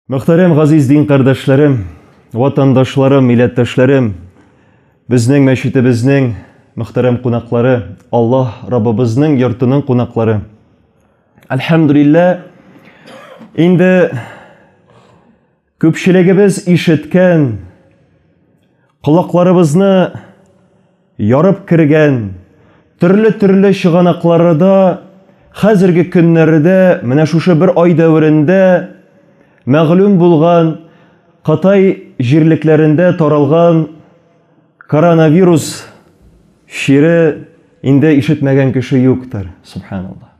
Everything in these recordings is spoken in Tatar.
Мөхтәрәм газиз дин кардәшләрем, ватандашларым, милләттәшләрем, безнең мәчетебезнең мөхтәрәм кунаклары, Аллаһ Раббыбызның йортының кунаклары. Әлхәмдулиллә, инде Күпчелегебез ишеткән, колакларыбызны ярып кергән төрле-төрле чыганакларыда хәзерге көннәрдә, менә шушы бер ай дәверендә мәгълүм булган Кытай җирлекләрендә таралган коронавирус чире инде ишетмәгән кеше юктыр, субханаллаһ.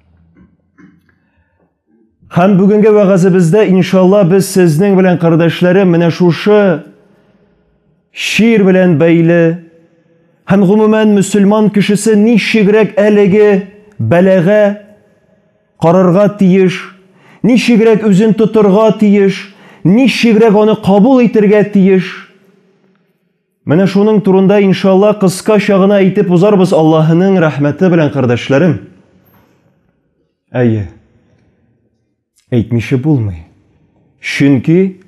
Һәм бүгенге вәгазебездә, иншалла, без сезнең белән, кардәшләрем, менә шушы шир белән бәйле һәм гомумән мөселман кешесе ничегрәк әлеге бәлагә карарга тиеш, ничегрәк үзен тотырга тиеш, ничегрәк аны кабул итергә тиеш. Менә шуның турында, иншалла, кыскача гына әйтеп узарбыз Аллаһының рәхмәте белән, кардәшләрем. Әйе. Әйтмичә булмый. Чөнки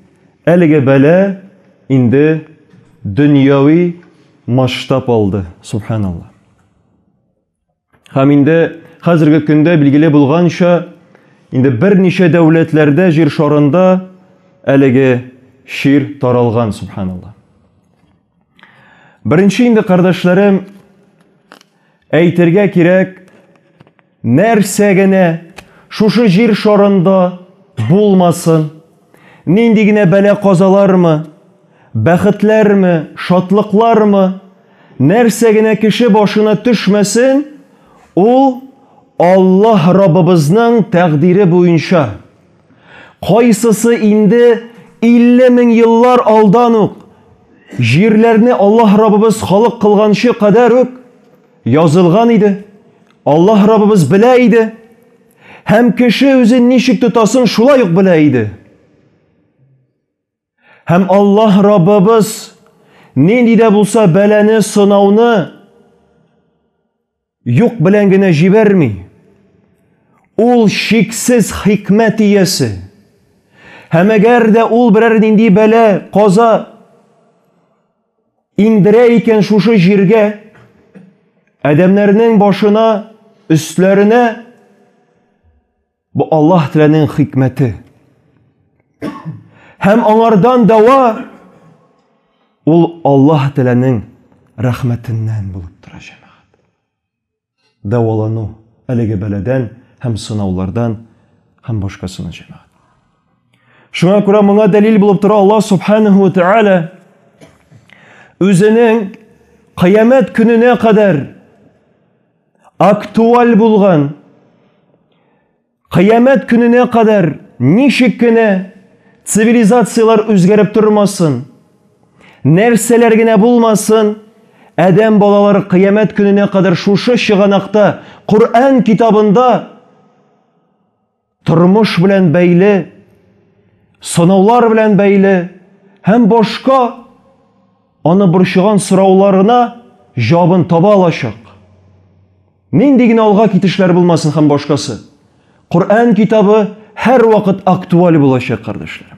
әлеге бәла инде дөньяви масштаб алды, субханалла. Һәм инде хәзерге көндә билгеле булганча, инде берничә дәүләтләрдә җир шарында әлеге чир таралган, субханалла. Беренче инде, кардәшләрем, әйтергә кирәк, нәрсә генә шушы җир шарында булмасын, нинди генә бәла-казалармы, бәхетләрме, шатлыклармы, нәрсә генә кеше башына төшмәсен, ул Аллаһ Раббыбызның тәкъдире буенча. Кайсысы инде 50 мең еллар алдан ук җирләрне Аллаһ Раббыбыз халык кылганчы кадәр үк язылган иде. Аллаһ Раббыбыз белә иде. Һәм кеше үзен ничек тотасын шулай ук белә иде. Һәм Аллаһ Раббыбыз нинди дә булса бәләне, сынауны юк белән генә җибәрми. Ул шиксез хикмәт иясе. Һәм әгәр дә ул берәр нинди бәлә, каза индерә икән шушы җиргә, адәмнәрнең башына, өсләренә, Бу Аллаһ Тәгаләнең хикмәте. Һәм аңардан дәва ул Аллаһ Тәгаләнең рәхмәтеннән булып тора, җәмәгать. Дәвалану әлеге бәладән һәм сынаулардан һәм башкасына җәмәгать. Шуңа күрә моңа дәлил булып тора Аллаһ Субханаһу ва Тәгалә үзенең кыямәт көненә кадәр актуаль булган кыямәт көненә кадәр ничек кенә цивилизацияләр үзгәреп тормасын, нәрсәләр генә булмасын, адәм балалары кыямәт көненә кадәр шушы чыганакта, Коръән китабында тормыш белән бәйле, сынаулар белән бәйле һәм башка аны борчыган сорауларына җавабын таба алачак. Нинди генә алга китешләр булмасын һәм башкасы. Коръән китабы һәрвакыт актуаль булачак, кардәшләрем.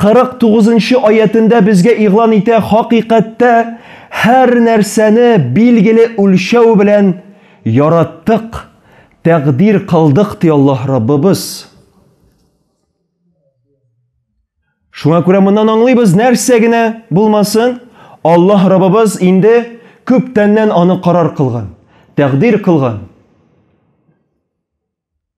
49 нчы аятендә безгә игълан итә, хакыйкатьтә һәр нәрсәне билгеле үлчәү белән яраттык, тәкъдир кылдык, ди Аллаһ Раббыбыз. Шуңа күрә моннан аңлыйбыз, нәрсә генә булмасын, Аллаһ Раббыбыз инде күптәннән аны карар кылган, тәкъдир кылган.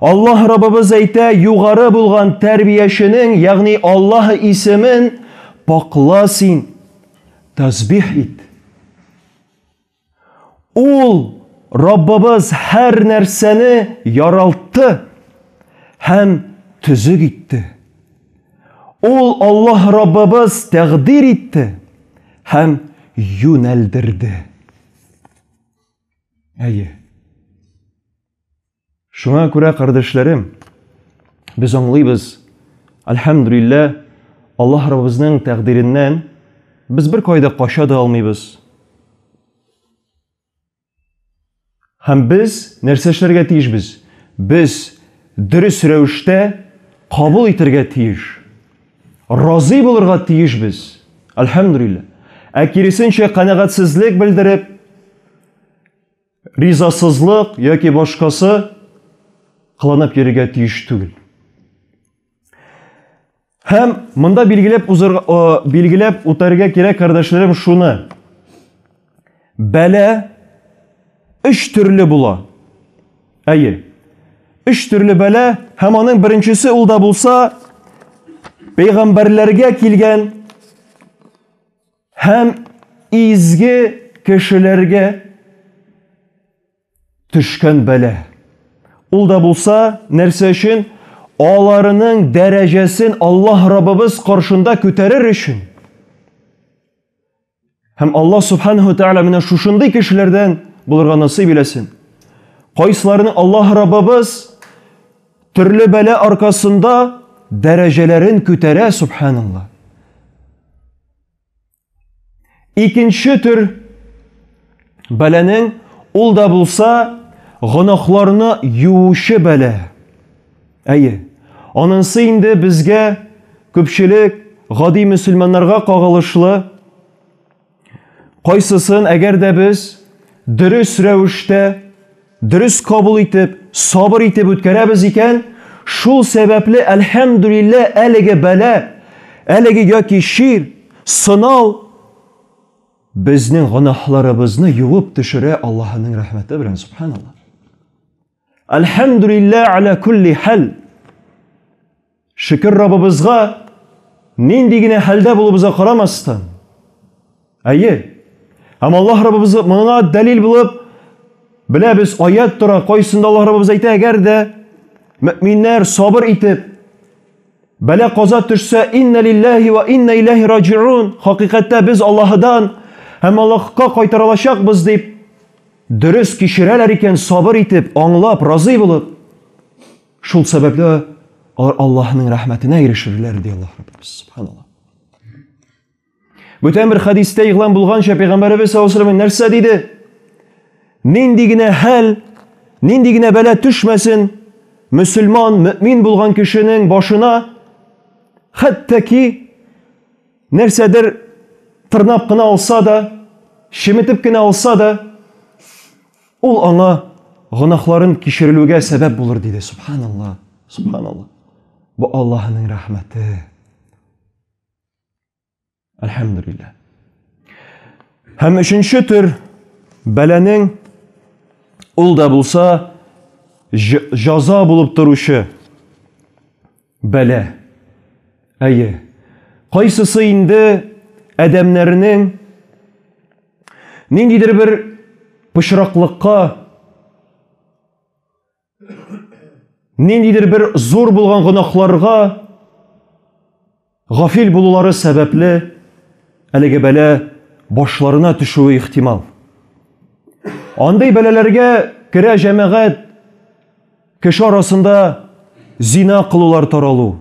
Аллаһ Раббыбыз әйтә, югары булган тәрбияченең, ягъни Аллаһ исемен пакла син, тәсбих ит. Ул Раббыбыз һәр нәрсәне яралтты һәм төзек итте. Ул Аллаһ Раббыбыз тәкъдир итте һәм юнәлдерде. Әйе. Шуңа күрә, кардәшләрем, без аңлыйбыз, альхамдулилла, Аллаһ Раббыбызның тәкъдиреннән без бер кайда кача да алмыйбыз. Һәм без нәрсә эшләргә тиешбез? Без дөрес рәвештә кабул итәргә тиеш. Разый булырга тиешбез. Альхамдулилла. Ә киресенчә канәгатьсезлек белдереп, ризасызлык яки башкасы кыланып йөрергә тиеш түгел. Һәм монда билгеләп узырга билгеләп үтәргә кирәк, кардәшләрем, шуны. Бәлә өч төрле була. Әйе. Өч төрле бәлә һәм аның беренчесе ул да булса пәйгамбәрләргә килгән Һәм изге кешеләргә төшкән бәла. Ул да булса, нәрсә өчен? Аларының дәрәҗәсен Аллаһ Раббыбыз каршында күтәрер өчен. Һәм Аллаһ Субханаһу Тәгалә менә шушындый кешеләрдән булырга насыйп иләсен. Кайсыларны Аллаһ Раббыбыз төрле бәла аркасында дәрәҗәләрен күтәрә, субханаллаһ. Икенче төр бәләнең ул да булса гөнаһларны юучы бәла. Әйе, анысы инде безгә күпчелек гади мөселманнарга кагылышлы. Кайсысын әгәр дә без дөрес рәвештә Дөрес кабул итеп, сабыр итеп үткәрәбез икән, шул сәбәпле, әлхәмдүлиллә, әлеге бәла, әлеге яки чир, сынау безнең гөнаһларыбызны юып төшерә Аллаһының рәхмәте белән, субханаллаһ. Әлхәмдүлиллә, аля кулли хәл. Шөкер Раббыбызга, нинди генә хәлдә булуыбызга карамастан, әйе, һәм Аллаһ Раббыбыз моңа дәлил булып, беләбез, аят тора, кайсында Аллаһ Раббыбыз әйтә, әгәр дә мөминнәр сабыр итеп, бәлә каза төшсә, инна лилләһи ва инна иләһи раҗиун, хакыйкатьтә без Аллаһыдан һәм Аллаһка кайтарылачакбыз дип, дөрес кичерәләр икән, сабыр итеп, аңлап, разый булып, Шул сәбәпле алар Аллаһның рәхмәтенә ирешерләр, ди Аллаһ Раббыбыз. Субханаллаһ. Бүтән бер хәдистә игълан булганча, пәйгамбәребез саллаллаһу алейһи нәрсә диде? Нинди генә хәл, нинди генә бәла төшмәсен, мөселман, мөмин булган кешенең башына хәтта ки Нәрсәдер тырнап кына алса да, чеметеп кенә алса да, ул аңа гөнаһларын кичерелүгә сәбәп булыр диде. Субханалла, субханалла. Бу Аллаһының рәхмәте. Әлхәмдүлилләһ. Һәм өченче төр бәләнең ул да булса җаза булып торучы Бәла. Әйе, кайсысы инде адәмнәрнең ниндидер бер пычраклыкка, ниндидер бер зур булган гөнаһларга гафил булулары сәбәпле әлеге бәла башларына төшүе ихтимал. Андый бәләләргә керә җәмәгать Кеше арасында зина кылулар таралу,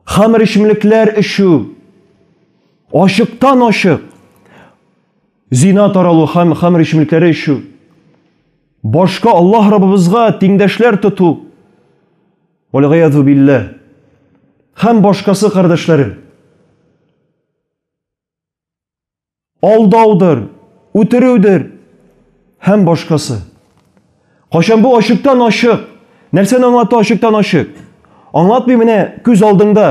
хамер эчемлекләр эчү, ачыктан ачык зина таралу һәм хамер эчемлекләре эчү, башка Аллаһ Раббыбызга тиңдәшләр тоту, вәлгыязу билләһ, һәм башкасы кардәшләрем. алдаудыр, үтерүдер һәм башкасы. Кайчан бу ачыктан ачык, нәрсәне аңлата ачыктан ачык? Аңлатмый менә күз алдыңда.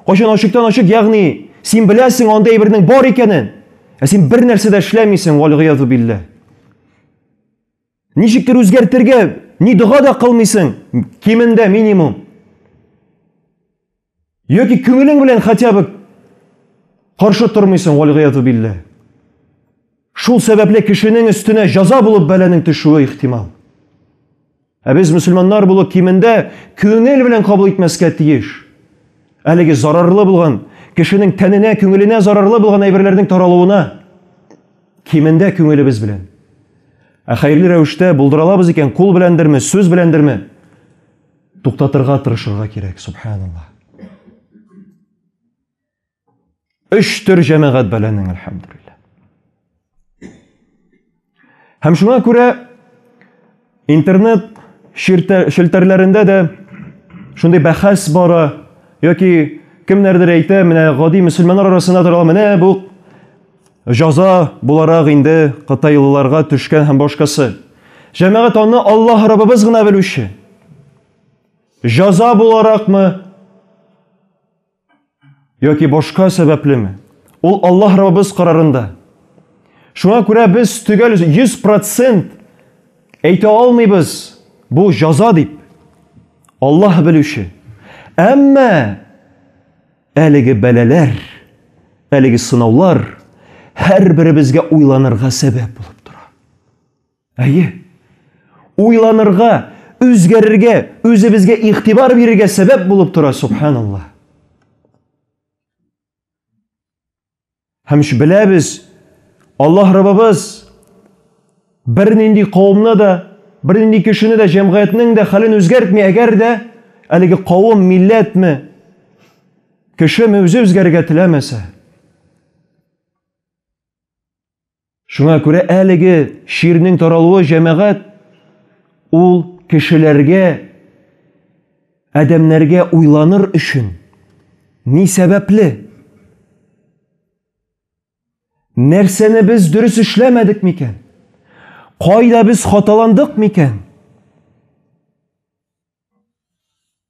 Кайчан ачыктан ачык, ягъни син беләсең андый әйбернең бар икәнен, ә син бер нәрсә дә эшләмисең, валгыязу биллә. Ничектер үзгәртергә ни дога да кылмыйсың, кимендә минимум. Яки күңелең белән хотя бы каршы тормыйсың, вальгыязу биллә. Шул сәбәпле кешенең өстенә җаза булып бәланең төшүе ихтимал. Ә без мөселманнар булып кимендә күңел белән кабул итмәскә тиеш. Әлеге зарарлы булган, кешенең тәненә, күңеленә зарарлы булган әйберләрнең таралуына кимендә күңелебез белән. Ә хәерле рәвештә булдыралабыз икән, кул беләндерме, сүз беләндерме? Туктатырга тырышырга кирәк, субханаллаһ. Өч төр җәмәгать бәләнең, әлхәмдүлилләһ. Һәм шуңа күрә интернет челтәрләрендә дә шундый бәхәс бара, яки кемнәрдер әйтә, менә гади мөселманнар арасында тора, менә бу Җаза буларак инде кытайлыларга төшкән һәм башкасы. Җәмәгать аны Аллаһ Раббыбыз гына белүче. Җаза буларакмы? Яки башка сәбәплеме? Ул Аллаһ Раббыбыз карарында. Шуңа күрә без төгәл 100% әйтә алмыйбыз, бу җаза дип. Аллаһ белүче. Әмма Әлеге бәлаләр, әлеге сынаулар һәрберебезгә уйланырга сәбәп булып тора. Әйе, уйланырга, үзгәрергә, үзебезгә игътибар бирергә сәбәп булып тора, субханалла. Һәм ш беләбез, Аллаһ Раббыбыз бернинди кавымны да, бернинди кешене дә, җәмгыятьнең дә хәлен үзгәртми, әгәр дә әлеге кавым, милләтме, кешеме үзе үзгәрергә теләмәсә. Шуңа күрә әлеге чирнең таралуы җәмәгать ул кешеләргә, адәмнәргә уйланыр өчен ни сәбәпле? Нәрсәне без дөрес эшләмәдек микән? Кайда без хаталандык микән?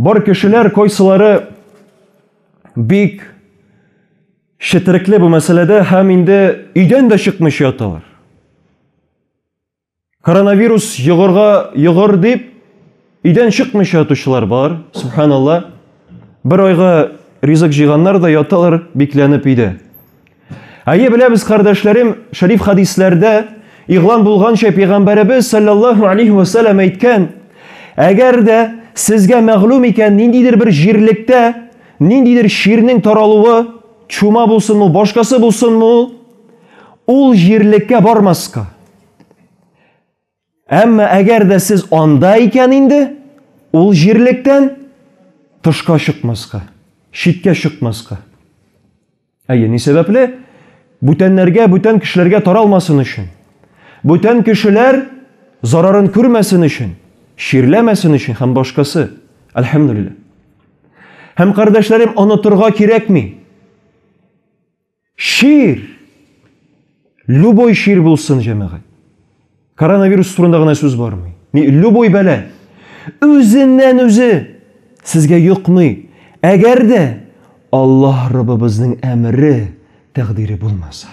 Бар кешеләр кайсылары бик шетрекле бу мәсьәләдә һәм инде өйдән дә чыкмыйча яталар. Коронавирус йогырга йогыр дип өйдән чыкмыйча ятучылар бар. Субханалла. Бер айга ризык җыйганнар да яталар бикләнеп өйдә. Әйе, беләбез, кардәшләрем, шәриф хәдисләрдә игълан булганча, пәйгамбәребез саллаллаһу алейһи ва саллям әйткән, әгәр дә сезгә мәгълүм икән ниндидер бер җирлектә ниндидер чирнең таралуы, чума булсынмы ул, башкасы булсынмы ул, ул җирлеккә бармаска. Әмма әгәр дә сез анда икән инде, ул җирлектән тышка чыкмаска, читкә чыкмаска. Әйе, ни сәбәпле? Бүтәннәргә, бүтән кешеләргә таралмасын өчен. Бүтән кешеләр зарарын күрмәсен өчен, чирләмәсен өчен һәм башкасы. Әлхәмдүлилләһ. Һәм кардәшләрем онытырга кирәкми. Чир! Любой чир булсын, җәмәгать. Коронавирус турында гына сүз бармый. Ни, любой бәлә. Үзеннән үзе сезгә йокмый. Әгәр дә Аллаһ Раббыбызның әмере, тәкъдире булмаса.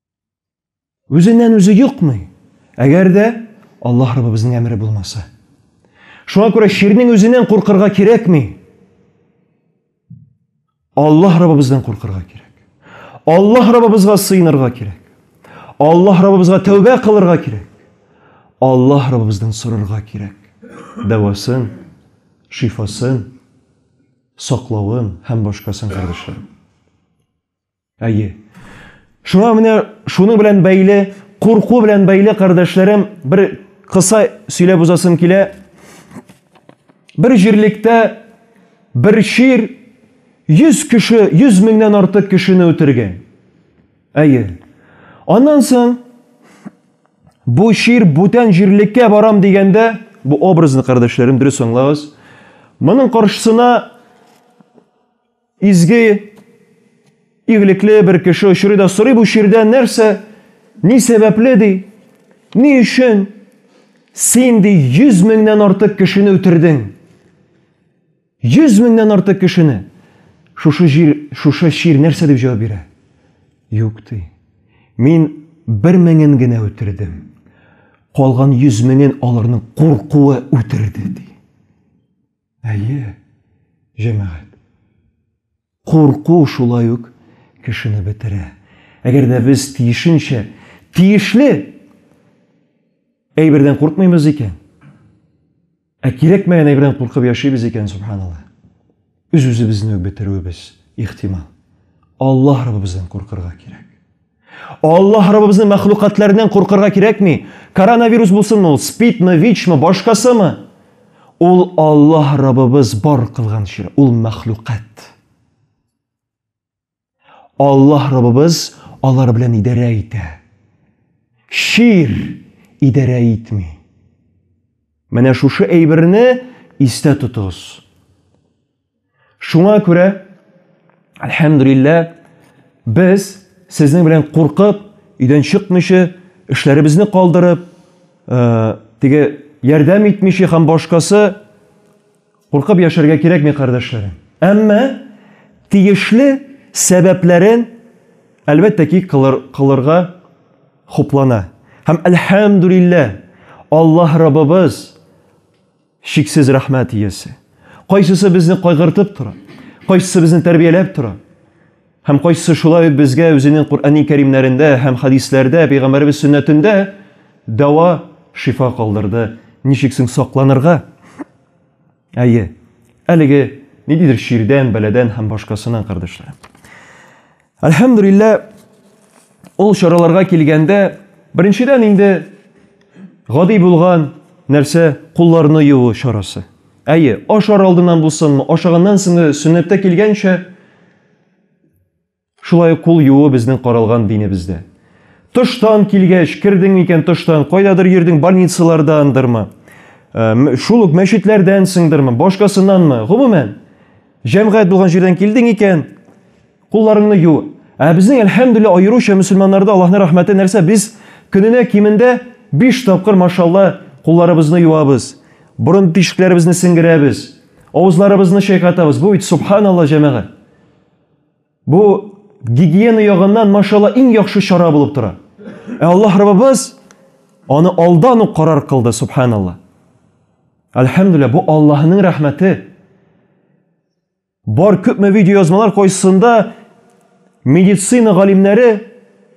Үзеннән үзе юкмый. Әгәр дә Аллаһ Раббыбызның әмере булмаса. Шуңа күрә ширнең үзеннән куркырга кирәкми. Аллаһ Раббыбыздан куркырга кирәк. Аллаһ Раббыбызга сыенырга кирәк. Аллаһ Раббыбызга тәүбә кылырга кирәк. Аллаһ Раббыбыздан сорарга кирәк. Дәвасын, шифасын, саклавын һәм башкасын, кардәшләрем. Әйе. Шуңа менә шуның белән бәйле, курку белән бәйле, кардәшләрем, бер кыса сөйләп узасым килә. Бер җирлектә бер чир 100 кеше, 100 меңнән артык кешене үтергән. Әйе. Аннан соң бу чир бүтән җирлеккә барам дигәндә, бу образны, кардәшләрем, дөрес аңлагыз. Моның каршысына Изге, игелекле бер кеше очрый да сорый бу чирдән нәрсә, ни сәбәпле ди, ни өчен син ди 100 меңнән артык кешене үтердең? 100 меңнән артык кешене. Шушы җир, шушы чир нәрсә дип җавап бирә? Юк ди. Мин бер меңен генә үтердем. Калган 100 меңен аларның куркуы үтерде ди. Әйе, җәмәгать. Курку шулай ук кешене бетерә. Әгәр дә без тиешенчә тиешле әйбердән куркмыйбыз икән, ә кирәкмәгән әйбердән куркып яшибез икән, субханалла, үз-үзебезне үк бетерүебез ихтимал. Аллаһ Раббыбыздан куркырга кирәк. Аллаһ Раббыбызны мәхлукатлардан куркырга кирәкми. Коронавирус булсынмы ул, спидмы, ВИЧмы, башкасымы? Ул Аллаһ Раббыбыз бар кылган чир, ул мәхлукат. Аллаһ Раббыбыз алар белән идарә итә. Чир идарә итми. Менә шушы әйберне истә тотыгыз. Шуңа күрә, әлхәмдүлиллә, без сезнең белән куркып, өйдән чыкмыйча, эшләребезне калдырып, э, теге ярдәм итмичә һәм башкасы куркып яшәргә кирәкми, кардәшләрем. Әмма тиешле сәбәпләрен әлбәттә ки кылыр, кылырга хуплана. Һәм әлхәмдүлиллә, Аллаһ Раббыбыз Чиксез рәхмәт иясе. Кайсысы безне кайгыртып тора, кайсысы безне тәрбияләп тора, һәм кайсысы шулай ук безгә үзенең Коръәни кәримнәрендә һәм хәдисләрдә, пәйгамбәребез сөннәтендә дәва, шифа калдырды. Ничек соң сакланырга? Әйе, әлеге ниндидер чирдән, бәладән һәм башкасыннан, кардәшләрем. Әлхәмдүлиллә, ул чараларга килгәндә, беренчедән инде гади булган нәрсә кулларны юу чарасы. Әйе, ашар алдыннан булсынмы, ашаганнан соң сөннәттә килгәнчә шулай кул юу безнең каралган динебездә. Тыштан килгәч, кирдең микән тыштан, кайдадыр йөрдең, больницалардандырмы, э, шул ук мәчетләрдән сыңдырмы, башкасыннанмы, гомумән, җәмгыять булган җирдән килдең икән, Кулларыңны ю. Ә безнең, әлхәмдүлилләһ, аеруча мөселманнарда, Аллаһның рәхмәте нәрсә, без көненә кимендә биш тапкыр, машалла, кулларыбызны юабыз, борын тишекләребезне сеңгерәбез, авызларыбызны чайкатабыз. Бу бит, субханалла, җәмәгать! Бу гигиена ягыннан, машалла, иң яхшы чара булып тора. Ә Аллаһ Раббыбыз аны алдан ук карар кылды, субханалла. Әлхәмдүлилләһ, бу Аллаһының рәхмәте. Бар күпме видеоязмалар кайсысында медицина галимнәре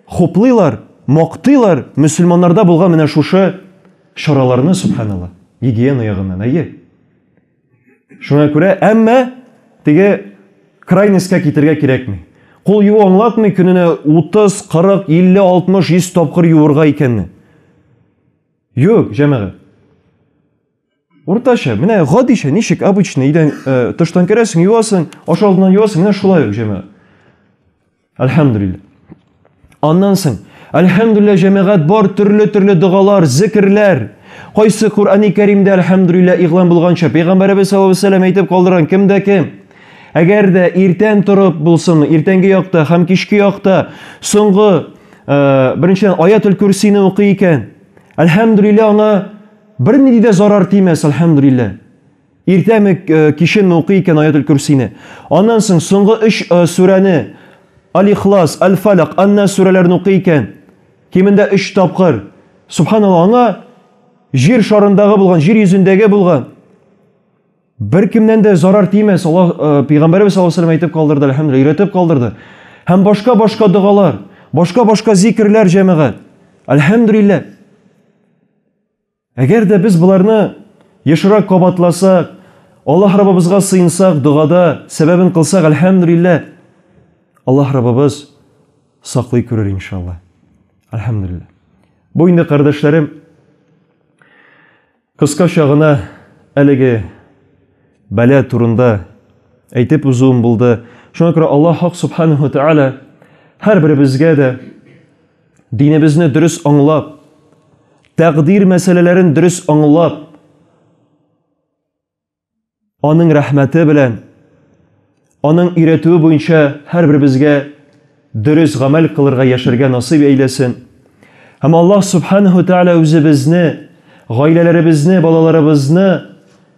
хуплыйлар, мактыйлар мөселманнарда булган менә шушы чараларны, субханалла, гигиена ягыннан, әйе. Шуңа күрә, әмма теге крайностька китергә кирәкми. Кул юу аңлатмый көненә 30, 40, 50, 60, 100 тапкыр юырга икәнне. Юк, җәмәгать. Уртача, менә гадичә, ничек обычно идән э, тыштан керәсең, юасың, аша алдыннан юасың, менә шулай ук җәмәгать. Әлхәмдүлиллә. Аннан соң, әлхәмдүлиллә, җәмәгать бар төрле-төрле догалар, зикерләр. Кайсы Коръәни Кәримдә әлхәмдүлиллә игълан булганча, пәйгамбәребез саллаллаһу алейһи вәсәлләм әйтеп калдырган кемдә кем? Әгәр дә иртән торып булсын, иртәнге якта һәм кичке якта соңгы э, беренчедән аятул курсины укый икән, әлхәмдүлиллә аңа Бер нинди дә зарар тимәс, әлхәмдүлилләһ. Иртәме, кичеме укый икән Аятел көрсине. Аннан соң соңгы өч сүрәне, Аль-Ихлас, Аль-Фәләк, Ан-Нас сүрәләрен укый икән, кимендә өч тапкыр, субханаллаһ, аңа җир шарындагы булган, җир йөзендәге булган беркемнән дә зарар тимәс. Аллаһ пәйгамбәребез саллаллаһу алейһи ва сәлләм әйтеп калдырды, әлхәмдүлилләһ, өйрәтеп калдырды. Һәм башка-башка догалар, башка-башка зикерләр, җәмәгать. Әлхәмдүлилләһ. Әгәр дә без боларны ешрак кабатласак, Аллаһ Раббыбызга сыенсак, догада сәбәбен кылсак, әлхәмдүлилләһ, Аллаһ Раббыбыз саклый күрер, иншалла. Әлхәмдүлилләһ. Бу инде, кардәшләрем, кыскача гына әлеге бәла турында әйтеп узуым булды. Шуңа күрә Аллаһ Хак Субханаху Тәгалә һәрберебезгә дә Динебезне дөрес аңлап, тәкъдир мәсьәләләрен дөрес аңлап, аның рәхмәте белән, аның өйрәтүе буенча һәрберебезгә дөрес гамәл кылырга яшәргә насыйп әйләсен. Һәм Аллаһ Субханәһү Тәгалә үзе безне, гаиләләребезне, балаларыбызны